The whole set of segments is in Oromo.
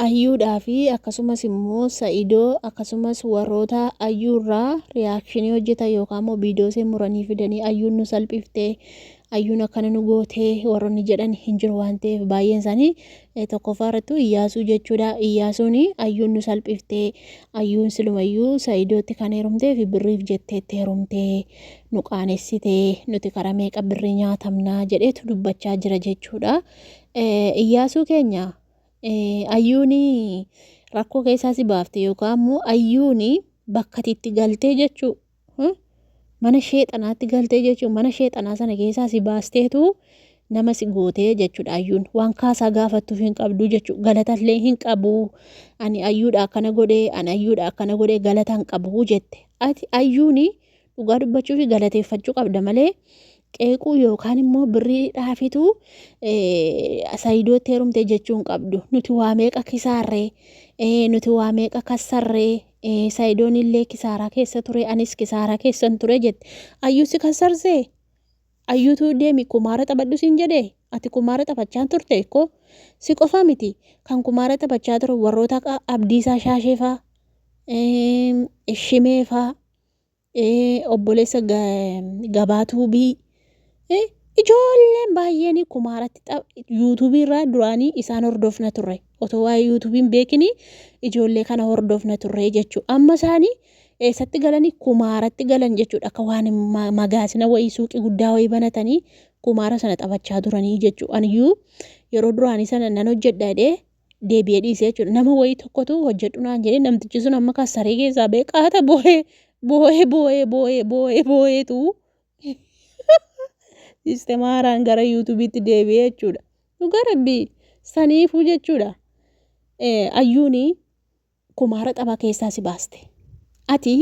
Ayyuudhaa fi akkasumas immoo sa'idoo akkasumas warroota ayyuu irraa reaction hojjetan yookaan immoo video ishee muranii fidanii ayyuun nu salphifte ayyuun akkana nu goote warroonni jedhan hin jiru waan ta'eef baay'een isaanii eh, tokkoffaa irrattu iyyaasuu jechuudha iyyaasuun ayyuun nu salphifte ayyuun silumayyuu sa'idootti kan heerumtee fi birriif jetteetti heerumte nu qaanessite nuti karaa meeqa birrii nyaatamnaa jedheetu dubbachaa jira jechuudha Eh, iyyaasuu keenya Ayyuun rakkoo keessaa si baafte yookaan immoo ayyuun bakka ati itti galtee jechuu mana sheexanaatti galtee jechuu mana sheexanaa sana keessaa si baasteetu nama si gootee jechuudha ayyuun waan kaasaa gaafattuuf hin qabdu jechuu galatallee hin qabu ani ayyuudha akkana godhee ani ayyuudha akkana godhee galata hin qabu jette ati ayyuuni dhugaa dubbachuu fi galateeffachuu qabda malee qeequu yookaan immoo birrii dhaafitu saayidootti heerumte jechuu hin qabdu nuti waa meeqa kisaarree nuti waa meeqa kassarree saayidoon illee kisaaraa keessa ture anis kisaaraa keessan ture jette ayyuu si kassarsee ayyuutu deemi kumaara taphadhu siin jedhe ati kumaara taphachaa turte ikkoo si qofa miti kan kumaara taphachaa ture warroota abdiisaa shaasheefaa shimeefaa Ee obboleessa ga- gabaa tuubii Eh, ijoolleen baay'een kumaaratti xab- yuutuubii irraa duraanii isaan hordofna turre otoo waa'ee yuutuubiin beekini ijoollee kana hordofna turre jechuu amma isaanii eessatti galanii kumaaratti galan jechuudha akka waan ma- magaasina wayii suuqii guddaa wayii banatanii kumaara sana taphachaa turanii jechuu aniyyuu yeroo duraanii sana nan hojjedha jedhee deebi'ee dhiise jechuudha. Nama wayii tokkotu hojjedhu naan jedhee namtichi sun amma kan saree keessaa ba'e qaata boo'ee boo'ee boo'ee boo'ee boo'ee boo'eetu siistema haaraan gara yuutuubiitti deebi'ee jechuudha. Dhugaa rabbii saniifuu jechuudha. Ayyuuni Kumaara xabaa keessaa si baaste. Ati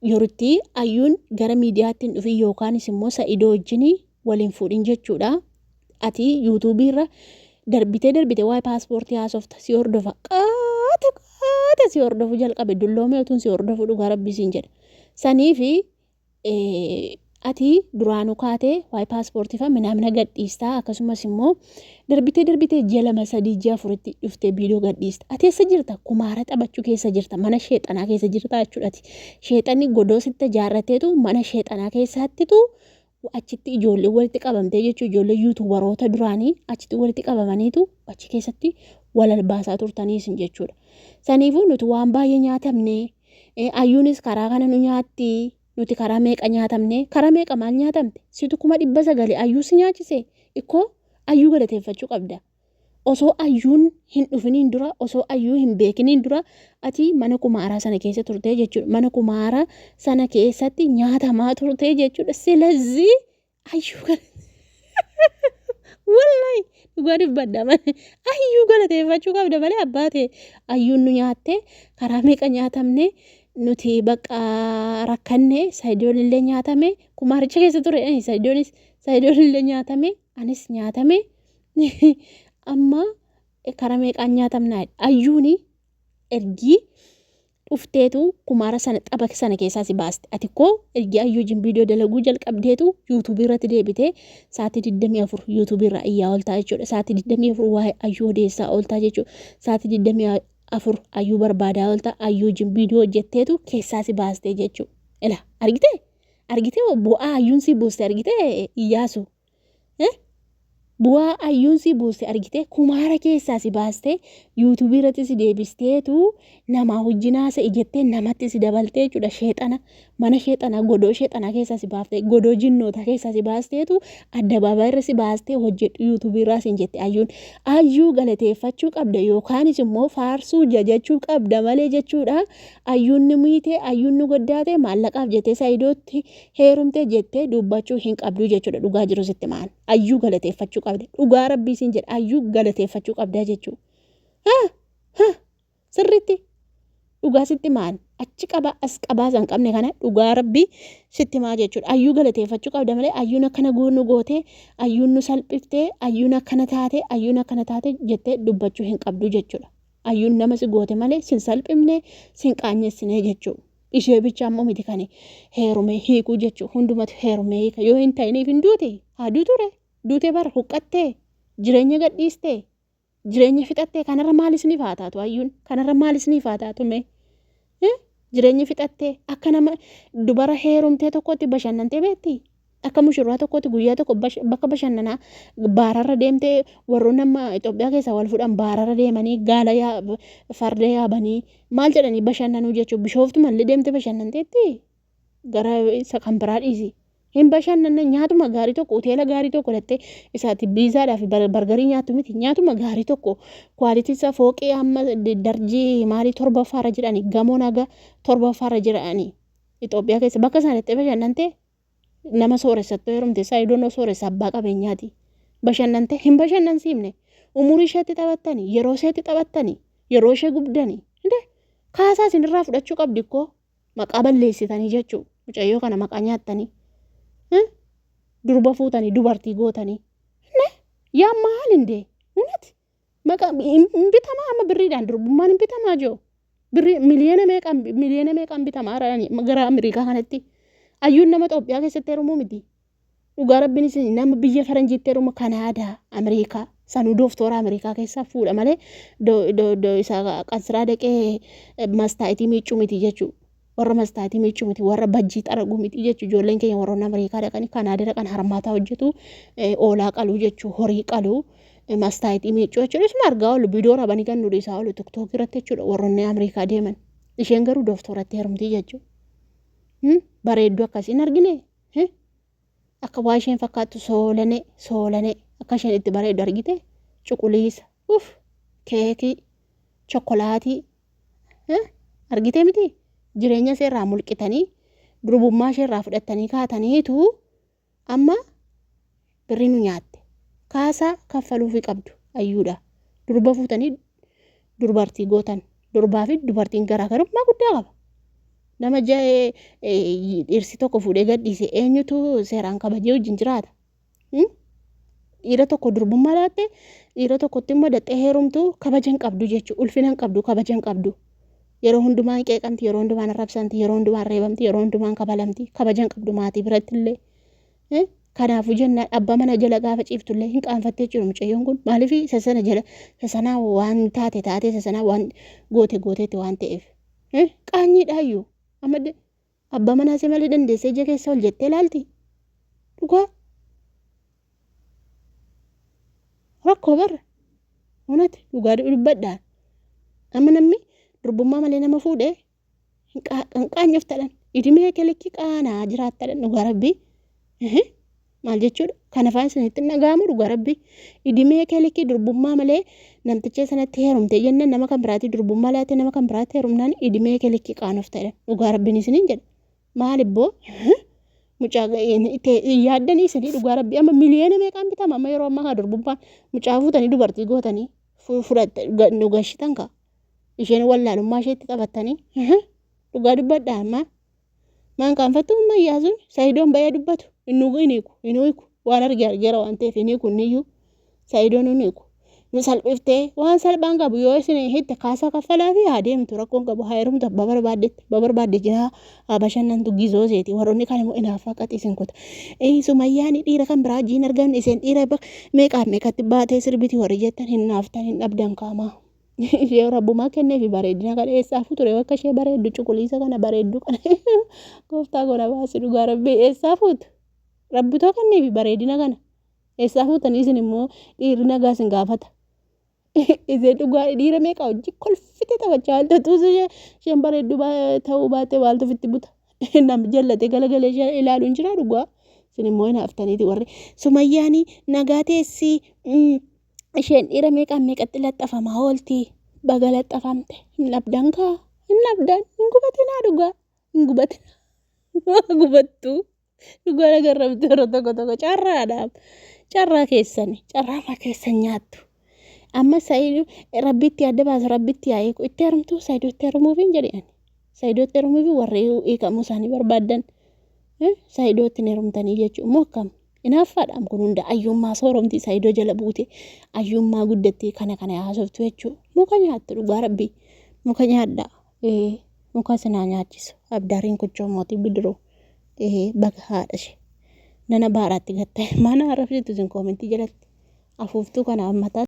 yoritti ayyuun gara miidiyaatti hin dhufin yookaanis immoo sa'idoo wajjin wal hin fuudhin jechuudha. Ati yuutuubii irra darbitee darbitee waa'ee paaspoortii haasofta si hordofa. Qaata qaata si hordofuu jalqabe dulloomee utuun si hordofuu dhugaa rabbii siin jedha. Saniifi ati duraanu kaate waa'ee paaspoortii fa'a minaamina gadhiista akkasumas immoo darbitee darbitee ji'a lama sadii ji'a afuritti dhuftee viidiyoo gadhiista ati eessa jirta kumaara taphachuu keessa jirta mana sheexanaa keessa jirta jechuudhati sheexanni godoo sitti ijaarrateetu mana sheexanaa keessaattitu achitti ijoollee walitti qabamtee jechuu ijoollee yuutuubaroota duraanii achitti walitti qabamaniitu achi keessatti walal baasaa turtaniisin jechuudha saniifuu nuti waan baay'ee nyaatamnee Eh, ayyuunis karaa kana nu nyaatti. Nuti karaa meeqa nyaatamne? Karaa meeqa maal nyaatamte? Situ kuma dhibba sagali ayyuu si nyaachise. Ikkoo ayyuu galateeffachuu qabda. Osoo ayyuun hin dhufiniin dura, osoo ayyuu hin beekiniin dura, ati mana kumaaraa sana keessa turtee jechuudha. Mana kumaaraa sana keessatti nyaatamaa turtee jechuudha. Silazii Ayyuu gala. Wallahi dhugaa dubbadha malee ayyuu galateeffachuu qabda malee abbaa ta'e ayyuun nu nyaattee karaa meeqa nyaatamne nuti bakka rakkanne sayidoon illee nyaatame kumaaricha keessa ture eh, sayidoonis sayidoon illee nyaatame anis nyaatame amma eh, karaa meeqaan nyaatamna ayyuuni ergii dhufteetu kumaara sana xaba sana keessaa si baaste ati koo ergi ayyuu wajjin viidiyoo dalaguu jalqabdeetu yuutuubii irratti deebitee sa'aatii 24 yuutuubii irraa iyyaa ooltaa jechuudha sa'aatii 24 waa'ee ayyuu odeessaa ooltaa jechuudha sa'aatii 24 ayyuu barbaadaa ooltaa ayyuu wajjin viidiyoo hojjetteetu keessaa si baastee jechuudha ila argitee argitee bu'aa ayyuun si buuste argitee iyyaasu Eh? Bu'aa ayyuun si buuste argitee kumaara keessaa si baastee yuutuubii irratti si deebisteetu namaa wajjin haasa'e jettee namatti si dabaltee jechuudha sheexana mana sheexanaa godoo sheexanaa keessaa si baaftee godoo jinnootaa keessaa si baasteetu addabaabaa irra si baastee hojjedhu yuutuubii irraa sin jette ayyuun ayyuu galateeffachuu qabda yookaanis immoo faarsuu jajachuu qabda malee jechuudha ayyuun ni miite ayyuun ni goddaate maallaqaaf jettee saayidootti heerumtee jettee dubbachuu hin qabduu jechuudha dhugaa jiru sitti maan ayyuu galateeffachuu qabda dhugaa rabbii siin jedha ayyuu galateeffachuu qabdaa jechuu ha ha sirritti dhugaa sitti maan achi qabaa as qabaa san qabne kana dhugaa rabbii sitti maa jechuudha ayyuu galateeffachuu qabda malee ayyuun akkana goonu gootee ayyuun nu salphiftee ayyuun akkana taatee ayyuun akkana taatee jettee dubbachuu hin qabduu jechuudha ayyuun nama si goote malee sin salphifne sin qaanyessinee jechuudha. Ishee bicha ammoo miti kan heerumee hiikuu jechuu hundumatu heerumee hiika yoo hin ta'iniif hin duute haa duuture duute bara huqqattee jireenya gadhiistee jireenya fixattee kanarra maal isiniif haa taatu hayyuun kanarra maal isiniif haa taatu mee jireenya fixattee akka nama dubara heerumtee tokkotti bashannantee beekti Akka mushurraa tokkootti guyyaa tokko bakka bashannanaa baararra deemtee warroonni amma Itoophiyaa keessaa wal fuudhan baararra deemanii gaala farda yaabanii maal jedhanii bashannanuu jechuun bishooftu mallee deemtee bashannanteetti gara isa kan biraa dhiisi. Hin bashannanne nyaatuma gaarii tokko hoteela gaarii tokko lattee isaati biizaadhaa fi bargarii nyaattu miti nyaatuma gaarii tokko kwaalitii isaa fooqii amma darjii maalii torbaffaarra jedhanii gamoon haga torbaffaarra jedhanii Itoophiyaa keessa bakka isaanitti bashannantee nama sooressattuu heerumte saayidoon osoo sooressa abbaa qabeenyaati bashannante hin bashannansiifne umurii isheetti taphattani yeroo isheetti taphattani yeroo ishee gubdani hinde kaasaa isin irraa fudhachuu qabdi koo maqaa balleessitanii jechuu mucayyoo kana maqaa nyaattanii durba fuutanii dubartii gootanii hinde yaa maal hinde hunati Maqa hin hin bitamaa amma birriidhaan durbummaan hin bitamaa jiru. Birrii miliyoona meeqaan miliyoona meeqaan bitamaa jirani gara Ameerikaa kanatti. Ayyuun nama Itoophiyaa keessatti heerumuu miti. Dhugaa rabbiin isin nama biyya faranjiitti heerumu Kanaadaa, Ameerikaa, sanuu dooftoora Ameerikaa keessaa fuudha malee do, do, do, isa qansiraa dhaqee mastaa'itii miiccuu miti jechuudha. warra mastaatii miichuu miti warra bajjii xaraguu miti jechu ijoolleen keenya warroonni Ameerikaa dhaqanii Kanaadaa dhaqan harmaataa hojjetu oolaa qaluu jechu horii qaluu mastaayitii miichuu jechuudha isuma argaa oolu bidoo rabanii kan nu dhiisaa oolu tiktookii irratti jechuudha warroonni Ameerikaa deeman isheen garuu dooftoratti heerumtii jechu bareedduu akkasii hin argine akka waa isheen fakkaattu soolanee soolanee akka isheen itti bareeddu argite cuquliisa uf keekii chokkolaatii argitee miti jireenya ishee irraa mulqitanii durbummaa ishee irraa fudhattanii kaataniitu amma birrii nu nyaatte kaasaa kaffaluufi qabdu ayyuudha durba fuutanii durbartii gootan durbaa fi dubartiin garaagarummaa guddaa qaba nama ja'ee dhirsi tokko fuudhee gadhiise eenyutu seeraan kabajee wajjin jiraata Dhiira tokko durbummaa laatte dhiira tokkotti immoo daxxee heerumtu kabaja hin qabdu jechuudha. Ulfina hin qabdu kabaja hin qabdu. Yeroo hundumaan qeeqamti yeroo hundumaan arrabsamti yeroo hundumaan reebamti yeroo hundumaan kabalamti kabaja hin qabdu maatii biratti illee. Kanaafuu jennaan abbaa mana jala gaafa ciiftu illee hin qaanfattee jiru mucayyoon kun maaliif isa sana jala isa sanaa waan taate taate isa sanaa waan goote gooteetti waan ta'eef. Qaanyiidhaayyuu amma Abbaa manaa see malii dandeessee ija keessa ol jettee laalti? Dhugaa? Rakkoo bar. Unati dhugaa dubbadhaa. Amma namni durbummaa malee nama fuudhe hin qaanyoftadhan. Idimee kee likki qaanaa jiraattadhan dhugaa rabbii. Maal jechuudha? Kana fa'aa isinitti hin dhaga'amu dhugaa rabbi. Idimee kee likkii durbummaa malee namticha sanatti heerumte jennaan nama kan biraatti durbummaa laatee nama kan biraatti heerumnaan idimee kee likkii qaanofta jedhan. Dhugaa rabbiin isiniin jedha. Maal ibboo? Mucaa yaaddanii isinii dhugaa rabbi amma miliyoona meeqaan bitama amma yeroo ammaa kana durbummaan mucaa fuutanii dubartii gootanii fudhattanii nu gashitan kaa. Isheen wallaalummaa isheetti taphattanii dhugaa dubbadha ammaa. Maan qaanfattu amma Iyyaasuun Sa'idoon bayee dubbatu hin nugu hin hiiku hin hiiku waan arge argeera waan ta'eef hin hiiku niyyuu Sa'idoon hin hiiku. Nu salphiftee waan salphaan qabu yoo isin hitte kaasaa kaffalaa fi haa deemtu rakkoon qabu haa heerumtu abbaa barbaaddetti abbaa barbaadde jinaa haa bashannantu gizoo seeti warroonni kan immoo inaaffaa qaxi isin kuta. Sumayyaani dhiira kan biraa jiin argamne isin dhiira meeqaaf meeqatti baatee sirbiti warri jettan hin naaftan hin dhabdan kaamaa. Ishee rabbumaa kenneefi bareedina kana eessaafuu ture akka ishee bareeddu cuquliisa kana bareeddu kana gooftaa goona baasi dhugaa rabbii eessaa fuutu rabbitoo kenneefi bareedina kana eessaa fuutanii isin immoo dhiirri nagaa isin gaafata. Ishee dhugaa dhiira meeqa hojii kolfite taphachaa wal tatuusu ishee isheen bareeddu ta'uu baatee waaltu ofitti buta. Nam jallatee galagalee ishee ilaalu hin jiraa dhugaa isin immoo hin haftaniiti warri sumayyaanii nagaa teessii. isheen dhiira meeqaan meeqatti laxxafamaa oolti baga laxxafamte hin dhabdan kaa hin dhabdan hin gubatinaa dhugaa hin gubatinaa waa gubattu dhugaa nagarrabdu yeroo tokko tokko carraadhaaf carraa keessani carraa maa keessan nyaattu amma sayidu rabbitti adda baasu rabbitti yaa eegu itti herumtu sayidu itti herumuufiin jedhan sayidu itti herumuufi warri hiikamuu isaanii barbaadan sayidu itti herumtanii jechuun moo akkam Inaaffaadhaam kun hunda ayyuummaa sooromti isaa idoo jala buute ayyuummaa guddattee kana kana haasoftu jechuu muka nyaatta dhugaa rabbii muka nyaadhaa ee muka sinaa nyaachisu abdaariin kuchoo mootii bidiruu ee baga haadha ishee nana baaraatti gattee mana arrabsitu isin koomentii jalatti afuuftuu kana ammataa